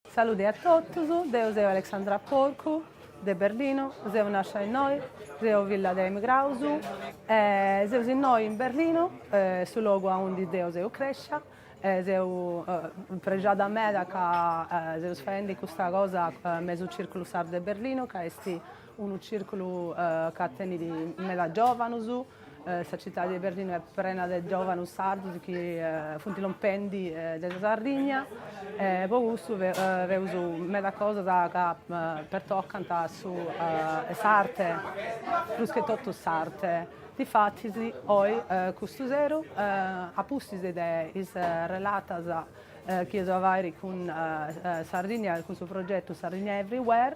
Salude a totus, deu seu Alexandra Porcu, de Berlinu, seu nàscia innoi, seu filla de emigraus e seus innoi in Berlinu, su logu aundi deu seu crèscia e seu prexada meda ca seus faendi custa cosa me su Cìrculu Sardu 'e Berlinu ca est Unu circulu ca tenit meda giovanus, sa citadi de Berlinu est prena de giovanus sardus chi funt lompendi de sa Sardigna e po cussu feus meda cosas ca pertocant s'arte, prus che totu s'arte. Difatis oi custu seru a pustis de is relatas chi eus a fairi cun Sardigna, cun su progetu Sardigna Everywhere,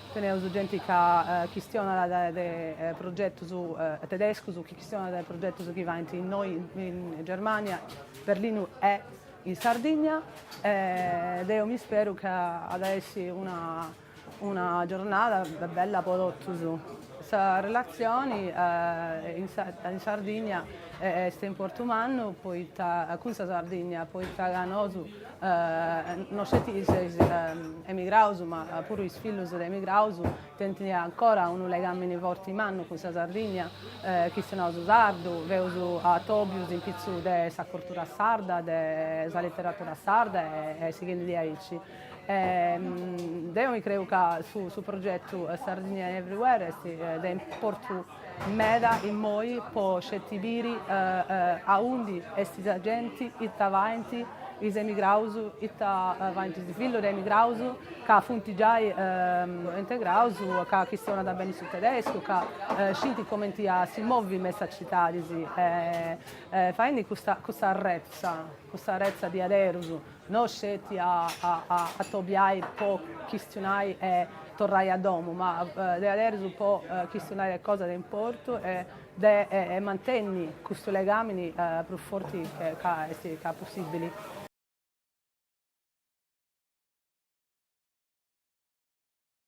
Teneus genti ca chistionat de progetus tedescus, chi chistionat de progetus chi fait innoi in Germània, Berlinu e in Sardigna. E deu mi speru ca at a essi una giornada bella po totus. Sa relatzioni in Sardigna est de importu mannu poita cun sa Sardigna, poita ca nosu no sceti is emigraus ma puru is fillus de emigraus tenint ancora unu legamini forti mannu cun sa Sardigna, chistionaus sardu, feus atobius in pitzus de sa cultura sarda, de sa literatura sarda e sighindi diaici. Deu mi creu ca su progetu Sardinia everywhere est de importu Meda immoi po sceti biri aundi est sa genti ita faint is emigraus, ita faint is fillus de emigraus ca funt giai integraus, ca chistionant beni su tedescu, ca scint comenti a si movi me is citadis e fendi custa retza, custa retza diaderus. No sceti a atobiai po chistionai e torrai a domu, ma de aderus po chistionai de cosa de importu e de mantenni custu legamini prus forti ca est ca possìbili.